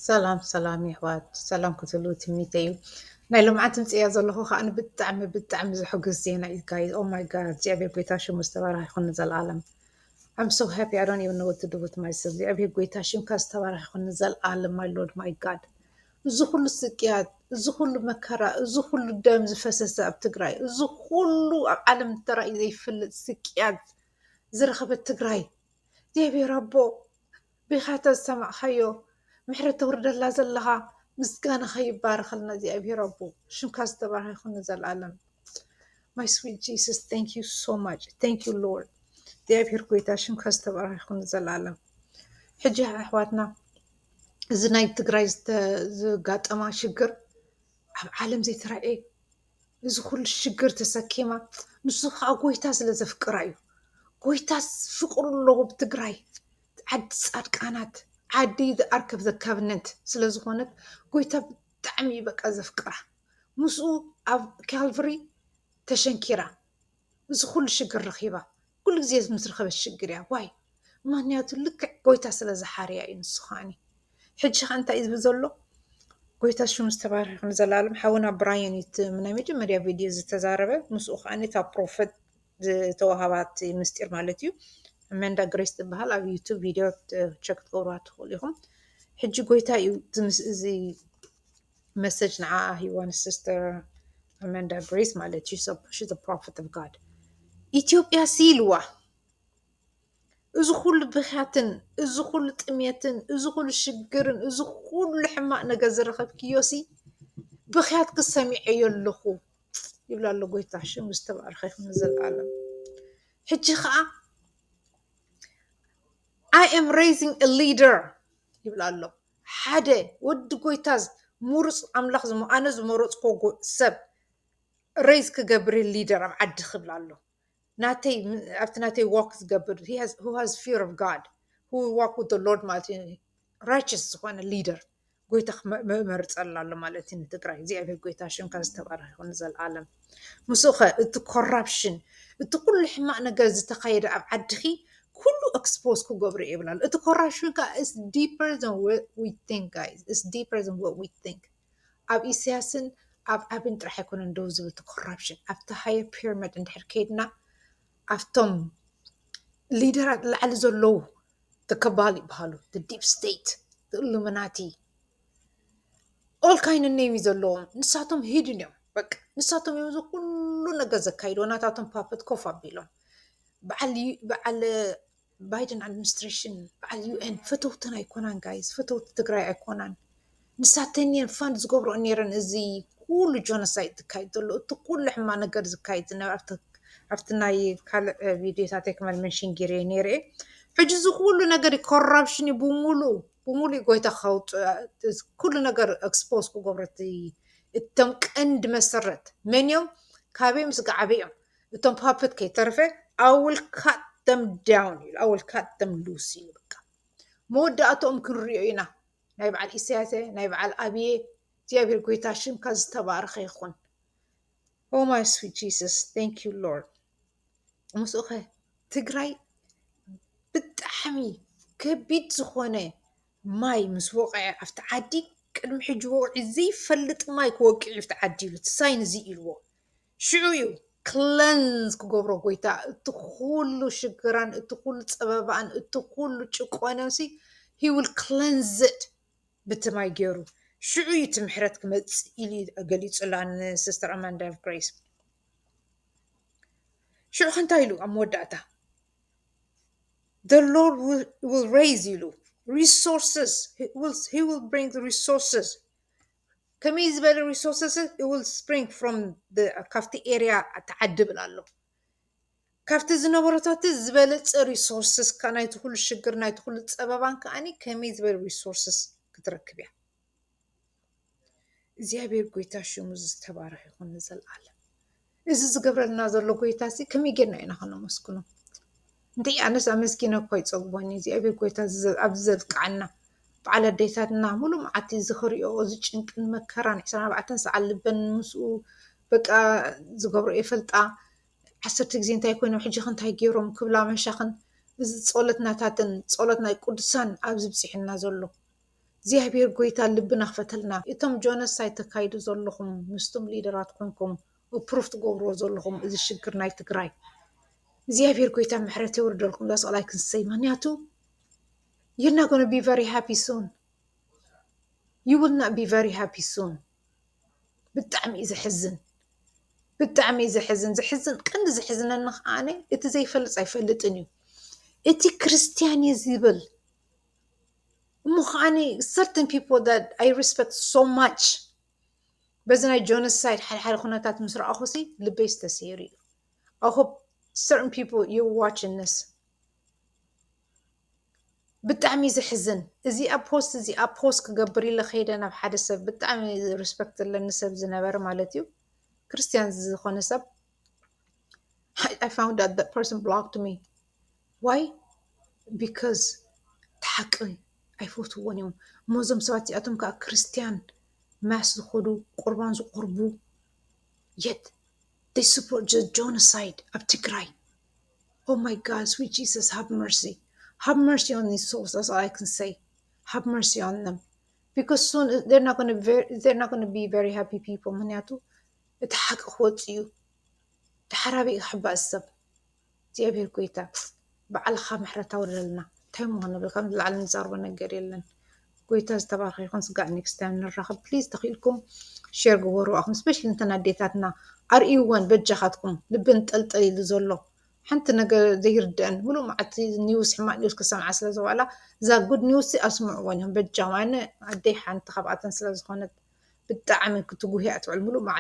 ሰላም ሰላም የሕዋት ሰላም ክትህልው ትምኒተ እዩ ናይ ልምዓት ድምፂ እያ ዘለኹ ከዓ ብጣዕሚ ብጣዕሚ ዘሕጉስ ዜና እዩ ጋይዝ ኦ ማይ ጋድ እግዚኣብሔር ጎይታ ሽሙ ዝተባረኸ ይኹን ንዘለኣለም I'm so happy. I don't even know what to do with myself. እግዚኣብሔር ጎይታ ሽምካ ዝተባረኸ ይኹን ንዘለኣለም ማይ ሎርድ ማይ ጋድ እዚ ኩሉ ስቅያት እዚ ኩሉ መከራ እዚ ኩሉ ደም ዝፈሰሰ ኣብ ትግራይ እዚ ኩሉ ኣብ ዓለም ተራእዩ ዘይፈልጥ ስቅያት ዝረኸበት ትግራይ እግዚኣብሔር ኣቦ ቢካ ተዝሰማዕካዮ ምሕረት ተውርደላ ዘለካ ምስጋናካ ይባረከልና እግዚኣብሔር ኣቦ ሽምካ ዝተባረከ ይኩን ንዘላለም my sweet Jesus thank you so much thank you Lord እግዚኣብሔር ጎይታ ሽምካ ዝተባረከ ይኩን ንዘላለም ሕጂ ኣሕዋትና እዚ ናይ ትግራይ ዝጋጠማ ሽግር ኣብ ዓለም ዘይተራእየ እዚ ኩሉ ሽግር ተሰኪማ ንሱ ከዓ ጎይታ ስለ ዘፍቅራ እዩ ጎይታ ፍቅሩ ኣለዎ ብትግራይ ዓዲ ፃድቃናት ዓዲ ዝኣርከብ ዘካብነት ስለ ዝኾነት ጎይታ ብጣዕሚ እዩ በቃ ዘፍቅራ ምስኡ ኣብ ካልቭሪ ተሸንኪራ እዚ ኩሉ ሽግር ረኺባ ኩሉ ግዜ ምስ ረኸበት ሽግር እያ ዋይ ምክንያቱ ልክዕ ጎይታ ስለ ዝሓርያ እዩ ንሱ ከዓኒ ሕጂ ከ እንታይ እዩ ዝብል ዘሎ ጎይታ ሽሙ ዝተባረኸ ይኹን ዘላለም ሓውና ብራየን እዩ እቲ ናይ መጀመርያ ቪድዮ ዝተዛረበ ምስኡ ከዓኒ እታ ፕሮፈት ዝተዋሃባ እቲ ምስጢር ማለት እዩ። ኣማንዳ ግሬስ ትበሃል ኣብ ዩቱብ ቪድዮ ቸክ ክትገብርዋ ትኽእሉ ኢኹም። ሕጂ ጎይታ እዩ እዚ መሰጅ ንዓኣ ሂዋ ንሲስተር ኣማንዳ ግሬስ ማለት እዩ ሺዝ ፕሮፌት ኦፍ ጋድ ኢትዮጵያ ሲ ኢልዋ እዚ ኩሉ ብኽያትን እዚ ኩሉ ጥሜትን እዚ ኩሉ ሽግርን እዚ ኩሉ ሕማቅ ነገር ዝረኸብክዮ ሲ ብኽያትኪ ሰሚዐዮ ኣለኹ። ይብላ ኣሎ ጎይታ ሽሙ ዝተባረኸ ይኹን ንዘለኣለም ሕጂ ከዓ ኣይ ኤም ሬይዚንግ አ ሊደር ይብላ ኣሎ ሓደ ወዲ ጎይታ ሙሩፅ ኣምላኽ ኣነ ዝመረፅኮ ሰብ ሬይዝ ክገብር ሊደር ኣብ ዓዲ ክብላ ኣሎ ናተይ ኣብቲ ናተይ ዋክ ዝገብር ሃዝ ፊር ኦፍ ጋድ ዋክ ዊዝ ሎርድ ማለት እዩ ራይቸስ ዝኾነ ሊደር ጎይታ መመርፀላ ኣሎ ማለት እዩ ንትግራይ እግዚኣብሔር ጎይታ ሽምካ ዝተባረኸ ይኹን ዘለዓለም ምስኡ ኸ እቲ ኮራፕሽን እቲ ኩሉ ሕማቅ ነገር ዝተኻየደ ኣብ ዓድኺ ኩሉ ኤክስፖዝ ክገብሩ ይብላሉ እቲ ኮራፕሽን ከዓ ስ ዲፐር ን ዊ ቲንክ ጋይስ ስ ዲፐር ን ዊ ቲንክ ኣብ ኢሰያስን ኣብ ኣብን ጥራሕ ኣይኮነን ደው ዝብል እቲ ኮራፕሽን ኣብቲ ሃየር ፒርመድ እንድሕር ከይድና ኣብቶም ሊደራት ላዕሊ ዘለዉ እከባል ይበሃሉ ዲፕ ስቴት እሉምናቲ ኦል ካይን ኔም እዩ ዘለዎም ንሳቶም ሂድን እዮም በቃ ንሳቶም እዮም እዚ ኩሉ ነገር ዘካይድዎ ናታቶም ፓፐት ኮፍ ኣቢሎም በዓል በዓል ባይደን ኣድሚኒስትሬሽን በዓል ዩኤን ፈተውተን ኣይኮናን ጋይስ ፈተውቲ ትግራይ ኣይኮናን ንሳተን እየን ፋንድ ዝገብረኦ ነይረን እዚ ኩሉ ጆኖሳይድ ዝካየድ ዘሎ እቲ ኩሉ ሕማ ነገር ዝካየድ ዝነበረ ኣብቲ ናይ ካልእ ቪድዮታተይ ክመል መንሽን ጌረ ነይረ ሕጂ እዚ ኩሉ ነገር ኮራፕሽን እዩ ብሙሉ ብሙሉ ጎይታ ከውፅእ ኩሉ ነገር ኤክስፖዝ ክገብረት እቶም ቀንዲ መሰረት መን እዮም ካበዮም ስጋዓበ እዮም እቶም ፓፐት ከይተረፈ I will cut them down ኢሉ I will cut them loose ኢሉ በቃ መወዳእትኦም ክንሪኦ ኢና ናይ በዓል ኢሳያሰ ናይ በዓል ኣብየ እግዚኣብሔር ጎይታ ሽምካ ዝተባረኸ ይኹን Oh my sweet Jesus thank you Lord ምስኡ ከ ትግራይ ብጣዕሚ ከቢድ ዝኾነ ማይ ምስ ወቕዐ ኣብቲ ዓዲ ቅድሚ ሕጂ ወቕዒ ዘይፈልጥ ማይ ክወቅዕ እዩ ኣብቲ ዓዲ ኢሉ እቲ ሳይን እዚ ኢልዎ ሽዑ እዩ ክለንዝ ክገብሮ ጎይታ እቲ ኩሉ ሽግራን እቲ ኩሉ ፀበባኣን እቲ ኩሉ ጭቆነንሲ ሂ ዊል ክለንዝድ ብቲ ማይ ገይሩ ሽዑ እዩ እቲ ምሕረት ክመፅእ ኢሉ እዩ ገሊፁላ ንሲስተር ኣማንዳ ኦፍ ግሬስ ሽዑ ከ እንታይ ኢሉ ኣብ መወዳእታ the lord will, will raise ኢሉ resources he will, he will bring the resources ከመይ ዝበለ ሪሶርስስ ዊል ስፕሪንግ ፍሮም ካብቲ ኤርያ እቲ ዓዲ ይብል ኣሎ። ካብቲ ዝነበረታቲ ዝበለጸ ሪሶርስስ ካብ ናይቲ ኩሉ ሽግር ናይቲ ኩሉ ጸበባን ከኣኒ ከመይ ዝበለ ሪሶርስስ ክትረክብ እያ። እግዚኣብሔር ጎይታ ሽሙ ዝተባረኸ ይኹን ንዘለኣለም። እዚ ዝገብረልና ዘሎ ጎይታ እዚ ከመይ ጌርና ኢና ከነመስግኖ? እንተይ ኣነስ ኣመስጊነ እኮ ኣይጸግቦን እግዚኣብሔር ጎይታ ኣብዚ ዘብቅዓና በዓል ኣዴታትና ሙሉእ መዓልቲ እዚ ክሪኦ እዚ ጭንቅን መከራን ዕስራን ኣርባዕተን ሰዓት ልበን ምስኡ በቃ ዝገብሮ ይፈልጣ ዓሰርተ ግዜ እንታይ ኮይኖም ሕጂኸ እንታይ ገይሮም ክብላ መሻኽን እዚ ጸሎትናታትን ጸሎት ናይ ቅዱሳን ኣብዚ ብጺሑና ዘሎ እግዚኣብሔር ጎይታ ልብና ክፈተልና እቶም ጆነሳይድ ተካይዱ ዘለኹም ምስቱም ሊደራት ኮንኩም እፕሩፍ ትገብርዎ ዘለኹም እዚ ሽግር ናይ ትግራይ እግዚኣብሔር ጎይታ ምሕረት የውርደልኩም ዳስ ኦል ኣይ ካን ሰይ ምክንያቱ ዩር ናት ጎነ ቢ ቨሪ ሃፒ ሱን ዩ ዊል ናት ቢ ቨሪ ሃፒ ሱን ብጣዕሚ እዩ ዘሕዝን ብጣዕሚ እዩ ዘሕዝን ዘሕዝን ቀንዲ ዘሕዝነኒ ከዓ እቲ ዘይፈልጥ ኣይፈልጥን እዩ እቲ ክርስትያን እዩ ዝብል እሞ ከዓኒ ሰርተን ፒፕል ዛት ኣይ ሪስፐክት ሶ ማች በዚ ናይ ጆኖሳይድ ሓድሓደ ኩነታት ምስ ረኣኹሲ ልበይስ ተሰይሩ እዩ። ኣይ ሆፕ ሰርተን ፒፕል ዩ ዋችን ዚስ ብጣዕሚ እዩ ዘሕዝን። እዚኣ ፖስት እዚኣ ፖስት ክገብር ኢለ ከይደ ናብ ሓደ ሰብ ብጣዕሚ ሪስፐክት ዘለኒ ሰብ ዝነበረ ማለት እዩ ክርስትያን ዝኾነ ሰብ I found out that person blocked me ዋይ ቢከዝ እቲ ሓቂ ኣይፈትዉዎን እዮም እሞ እዞም ሰባት እዚኣቶም ከዓ ክርስትያን ማስ ዝከዱ ቁርባን ዘቅርቡ የት ዘይ ስፖርት ዘ ጆነሳይድ ኣብ ትግራይ ኦህ ማይ ጋድ ስዊት ጅሰስ ሃቭ መርሲ ሃቭ መርሲ ኦን ዚስ ሶልስ ዳትስ ኦል ኣይ ካን ሰይ ሃቭ መርሲ ኦን ዘም ቢኮዝ ሱን ዘይ ኣር ናት ጎነ ቢ ቨሪ ሃፒ ፒፕል ምክንያቱ እቲ ሓቂ ክወፅእ እዩ ተሓራቢኡ ክሕባእ ዝሰብ። እግዚኣብሔር ጎይታ ባዕልኻ ምሕረት ኣውርደልና እንታይ እሞ ክንብል ካብ ንላዕሊ ንዛርቦ ነገር የለን ጎይታ ዝተባረኸ ይኹን ስጋዕ ኔክስት ታይም ንራኸብ ፕሊዝ ተኽኢልኩም ሼር ግበሩ ኣኹም ስፔሻሊ እንተን ኣዴታትና ኣርእይወን በጃኻትኩም ልቢ እንጠልጠል ኢሉ ዘሎ ሓንቲ ነገር ዘይርድአን ሙሉእ መዓልቲ ኒውስ ሕማቅ ኒውስ ክሰምዓ ስለ ዝዋዕላ እዛ ጉድ ኒውስ ኣስምዕወን እዮም በጃም ኣነ ኣደይ ሓንቲ ካብኣተን ስለ ዝኾነት ብጣዕሚ ክትጉህያ ትውዕል ሙሉእ መዓልቲ